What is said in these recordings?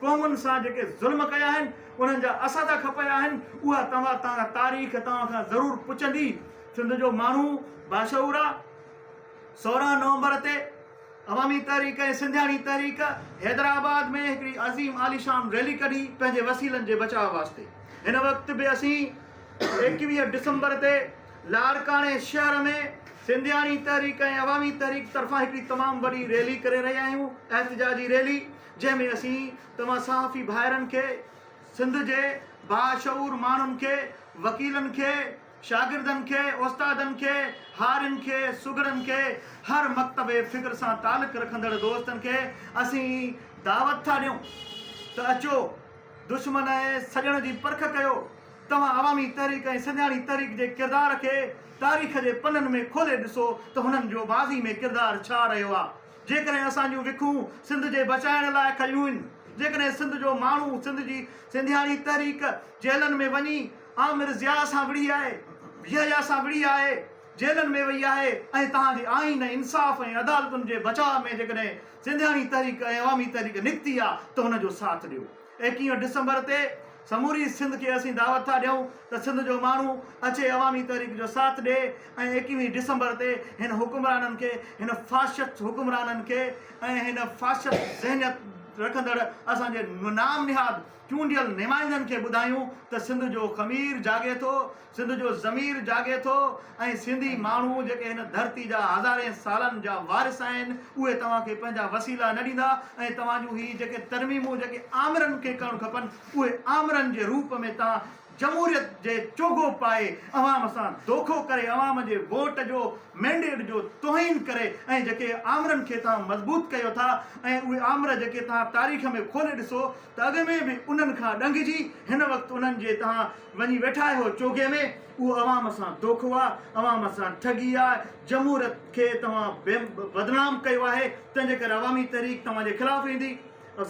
قومن سان جيڪي ظلم ڪيا آهن، انهن جا اسد کپيا آهن، اها توهان تان تاريخ توهان کان ضرور پڇندي. سنڌ جو ماڻهو باشعور آ. سورهن نومبر تي عوامي تحريڪ ۽ سنڌياڻي تحريڪ حيدرآباد ۾ هڪڙي عظيم عاليشان ريلي ڪڍي پنهنجي وسيلن جي بچاء واسطي. هن وقت به اسين ايڪويهه ڊسمبر تي لاڙڪاڻي شهر ۾ سنڌياڻي تحريڪ ۽ عوامي تحريڪ طرفان هڪڙي تمام وڏي ريلي ڪري رهيا آهيون. احتجاجي ريلي. جنهن ۾ اسين توهان صحافي ڀائرن کي، سنڌ جي باشعور ماڻهن کي، وڪيلن کي، شاگردن کي، استادن کي، هارين کي، سگهڙن کي، هر مڪتب فڪر سان تعلق رکندڙ دوستن کي اسين دعوت ٿا ڏيون ته اچو دشمن ۽ سڄڻ جي پرک ڪيو، توهان عوامي تحريڪ ۽ سنڌياڻي تحريڪ جي ڪردار کي تاريخ جي پنن ۾ کولي ڏسو ته هنن جو ماضي ۾ ڪردار ڇا رهيو آ. جيڪڏهن اسان جون وکون سنڌ جي بچائڻ لاء کنيون هن، جيڪڏهن سنڌ جو ماڻهو سنڌ جي سنڌياڻي تحريڪ جيلن ۾ وڃي آمر ضياء سان وڙهي آهي، يحيٰ سان وڙهي آهي، جيلن ۾ وئي آهي ۽ توهان جي آئين، انصاف ۽ عدالتن جي بچاء ۾ جيڪڏهن سنڌياڻي تحريڪ ۽ عوامي تحريڪ نڪتي آ ته ان جو ساٿ ڏيو. ايڪيهه ڊسمبر تي سموري سنڌ کي اسين دعوت ٿا ڏيون ته سنڌ جو ماڻهو اچي عوامي تحريڪ جو ساٿ ڏئي ۽ ايڪيهه ڊسمبر تي هن حڪمرانن کي هن فاشسٽ حڪمرانن کي ۽ هن فاشسٽ ذهنيت رکندڙ اسان جي نام نهاد چونڊيل نمائندن کي ٻڌايون ته سنڌ جو خمير جاڳي ٿو سنڌ جو ضمير جاڳي ٿو ۽ سنڌي ماڻهو جيڪي هن ڌرتي جا هزارين سالن جا وارث آهن اهي توهان کي پنهنجا وسيلا نه ڏيندا ۽ توهان جون هي جيڪي ترميمون جيڪي آمرن کي ڪرڻ کپن اهي آمرن جي روپ ۾ توهان جمهوريت جي چوغو پائي عوام سان دوکو ڪري عوام جي ووٽ جو مينڊيٽ جو توهين ڪري ۽ جيڪي آمرن کي توهان مضبوط ڪيو ٿا ۽ اهي آمر جيڪي توهان تاريخ ۾ کولي ڏسو ته اڳ ۾ به انهن کان ڏنگجي هن وقت انهن جي توهان وڃي ويٺا آهيو چوگهي ۾، اهو عوام سان دوکو آ، عوام سان ٺڳي آ، جمهوريت کي توهان بدنام ڪيو آهي، تنهن جي ڪري عوامي تحريڪ توهان جي خلاف ايندي،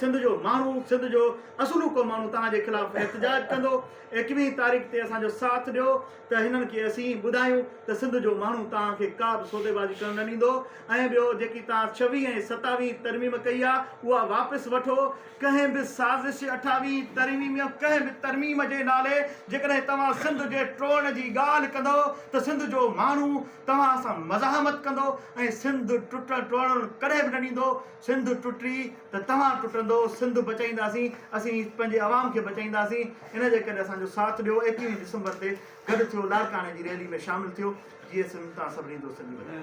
سنڌ جو ماڻهو، سنڌ جو اصولوڪو ماڻهو توهان جي خلاف احتجاج ڪندو، ايڪويهين تاريخ تي اسان جو ساٿ ڏيو ته هنن کي اسين ٻڌايون ته سنڌ جو ماڻهو توهان کي ڪا به سوديبازي ڪرڻ نه ڏيندو ۽ ٻيو جيڪي توهان ڇويهين ۽ ستاويهين ترميم ڪئي آ اها واپس وٺو، ڪنهن به سازش اٺاويهين ترميم يا ڪنهن به ترميم جي نالي جيڪڏهن توهان سنڌ جي ٽوڙڻ جي ڳالهه ڪندؤ ته سنڌ جو ماڻهو توهان سان مزاحمت ڪندو ۽ سنڌ ٽٽڻ ٽوڙڻ ڪڏهن به نه ڏيندو سنڌ ٽٽي ته توهان ٽٽندؤ سنڌ بچائينداسين اسين پنهنجي عوام کي بچائينداسين ان جي ڪري اسان جو ساٿ ڏيو ايڪويهه ڊسمبر تي گڏ ٿيو لاڙڪاڻي جي ريلي ۾ شامل ٿيو جيئي سنڌ تان سڀني دوستن جي وڌائي